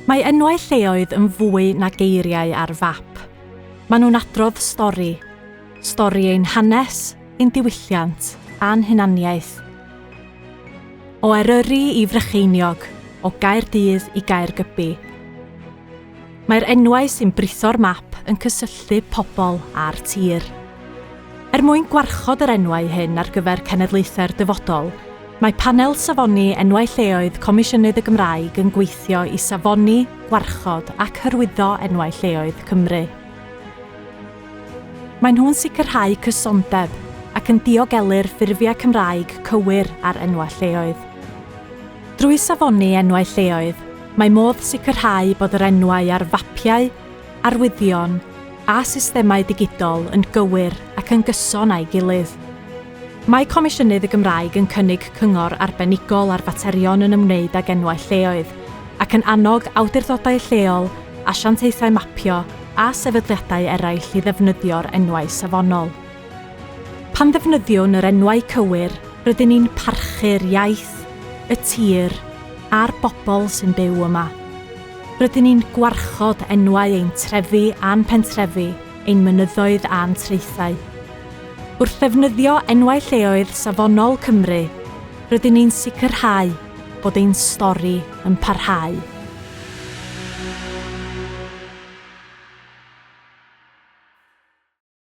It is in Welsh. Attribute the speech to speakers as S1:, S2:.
S1: Mae enwau lleoedd yn fwy na geiriau ar fap. Maen nhw'n adrodd stori. Stori ein hanes, ein diwylliant, a'n hunaniaeth. O Eryri i Frycheiniog, o Gaerdydd i Gaergybi. Mae'r enwau sy'n britho'r map yn cysylltu pobl â'r tir. Er mwyn gwarchod yr enwau hyn ar gyfer cenedlaethau'r dyfodol, mae Panel Safoni Enwau Lleoedd Comisiynydd y Gymraeg yn gweithio i safoni, gwarchod ac hyrwyddo enwau lleoedd Cymru. Maen nhw'n sicrhau cysondeb ac yn diogelu'r ffurfiau Cymraeg cywir ar enwau lleoedd. Drwy safoni enwau lleoedd, mae modd sicrhau bod yr enwau ar fapiau, arwyddion a systemau digidol yn gywir ac yn gyson â'i gilydd. Mae Comisiynydd y Gymraeg yn cynnig cyngor arbenigol ar faterion yn ymwneud ag enwau lleoedd ac yn annog awdurdodau lleol, asiantaethau mapio a sefydliadau eraill i ddefnyddio'r enwau safonol. Pan ddefnyddiwn yr enwau cywir, rydyn ni'n parchu'r iaith, y tir, a'r bobl sy'n byw yma. Rydyn ni'n gwarchod enwau ein trefi a'n pentrefi, ein mynyddoedd a'n traethau. Wrth ddefnyddio enwau lleoedd safonol Cymru, rydyn ni'n sicrhau bod ein stori yn parhau.